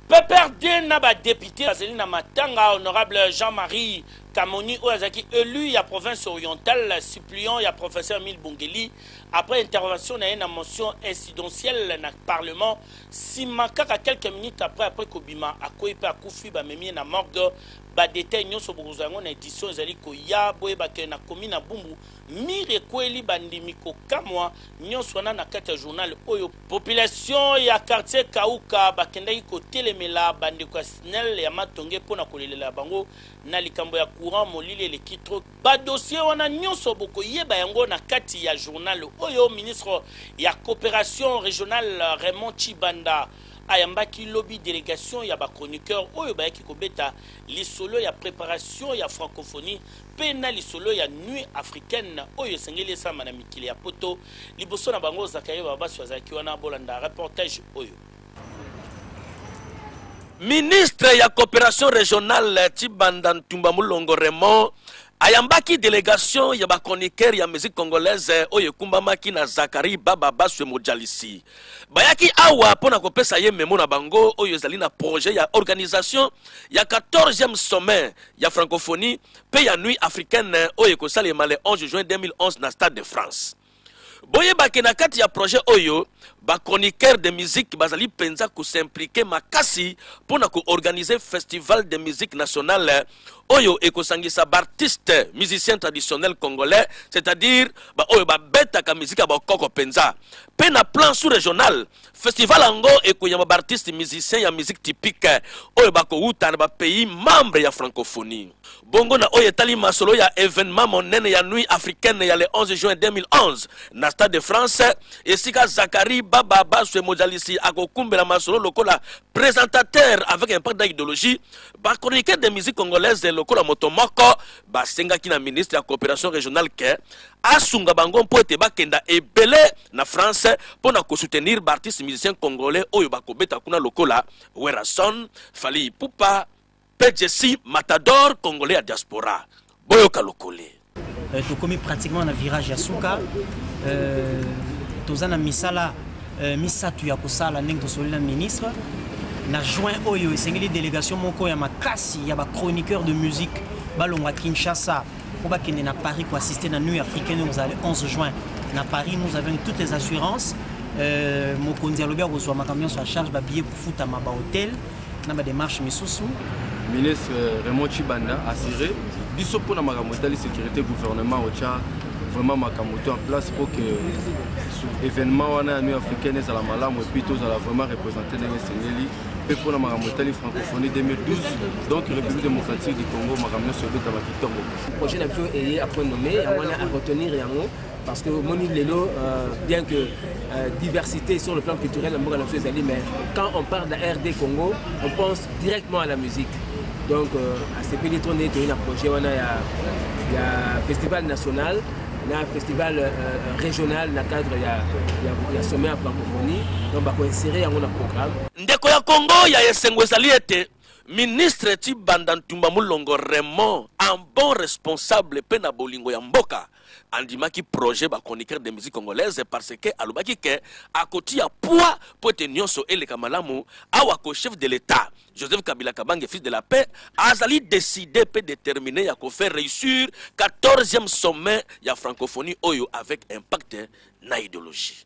PPRD na ba depute bazali na matanga honorable Jean-Marie Kamoni oyo azalaki élu ya province orientale suppléant ya professeur Emile Bongeli après intervention na ye na motion incidentielle na parlement sima kaka quelques minutes après après kobima akwei pe akufi bamemi ye na morgue ba détails nyonso bokozwa yango na édition ezali koya boyeba ke na komi na Bumbu mire ekweli bandimi kokamwa nyonso wana na kati ya journal oyo Population ya quartier Kauka bakendaki kotelemela ba ndeko ya Snel ya Matonge mpo na kolelela bango na likambo ya courant, molili eleki trop. Ba dossiers wana nionso bokoyeba yango na kati ya journal oyo ministre ya cooperation regionale Raymond Tshibanda ayambaki lobi delegation ya ba chroniqueurs oyo bayaki kobeta lisolo ya preparation ya francophonie mpe na lisolo ya Nuit africaine oyo esengeli esalama na mikili ya poto liboso na bango zakayo babasi bazalaki wana bolanda reportage oyo ministre ya coopération régionale tibanda ntumba mulongo raymond ayambaki delegation ya bachroniquere ya musique congolaise oyo ekumbamaki na zakari baba baswe mojalisi bayaki awa mpo na kopesa ye memo na bango oyo ezali na projet ya organisation ya 14e sommet ya francophonie mpe ya Nuit africaine oyo ekosalema le 11 juin 2011 na Stade de France. Boyeba ke na kati ya projet oyo, ba chroniqueurs de musique bazali mpenza ko s'impliquer makasi mpo na ko organiser festival de musique nationale oyo ekosangisa ba artistes musiciens traditionnels congolais, c'est-à-dire ba oyo babetaka miziki ya bokoko mpenza, mpe na plan sous-regional Festival yango ekoyamba ba artistes musiciens ya musique typique oyo bakowuta na ba pays membres ya francophonie. Bongo na oyo etali masolo ya evenement monene ya Nuit africaine ya le 11 juin 2011 na Stade de France, esika Zacharie Baba Baswe Mozalisi akokumbela masolo lokola presentateur avec impact dans ideologie, ba chroniqueurs de musique congolaise lokola moto moko basengaki na ministre ya cooperation regionale que asunga bango mpo ete bakenda ebele na france mpo na kosoutenir baartiste musicien congolais oyo bakobeta kuna lokola werason fali ipupa mpe jessi matador congolais ya diaspora boyoka lokole euh, tokomi pratiquement na virage ya suka euh, toza na misala euh, misato ya kosala ndenge tosoli na ministre na juin oyo esengeli délégation moko ya makasi ya bachroniqueur de musique balongwa kinshasa faut bakende na Paris ko assister na Nuit africaine vous allez 11 juin na Paris nous avons toutes les assurances euh, mokonzi alobi akozwa makambo nyonso ya charge babillet kofutama bahotel na badémarche misusu ministre euh, Raymond Chibanda assuré biso mpona makambo etali sécurité gouvernement otya vraiment makambo to en place mpo ke événement wana ya nuit africaine ezala malamu epuis tozala vraiment représente ndenge esengeli mpe mpo na makambo etali francophonie 2012 donc république démocratique du congo makambo nyonso ebetama kitoko projet na biso eye apres nommé yango wana aretenir yango parce que omoni lelo euh, bien que euh, diversité sur le plan culturel na mboka na biso ezali mais quand on parle de rd congo on pense directement à la musique donc euh, asepeli to nde toyei na projet wana ya, ya festival national na festival euh, euh, régional na cadre ya, ya, ya sommet ya francophonie donc bakoinsere yango na programme ndeko ya congo ya esengo ezali ete ministre tibanda ntumba molongo raymond un bon responsable mpe na bolingo ya mboka andimaki projet bachroniqueur de musique congolaise parce que alobaki ke akotia poids mpo ete nyonso eleka malamu awa ko chef de l'état Joseph Kabila Kabange fils de la paix azali decide pe determine ya ko faire reussir 14e sommet ya francophonie oyo avec impact na ideologie.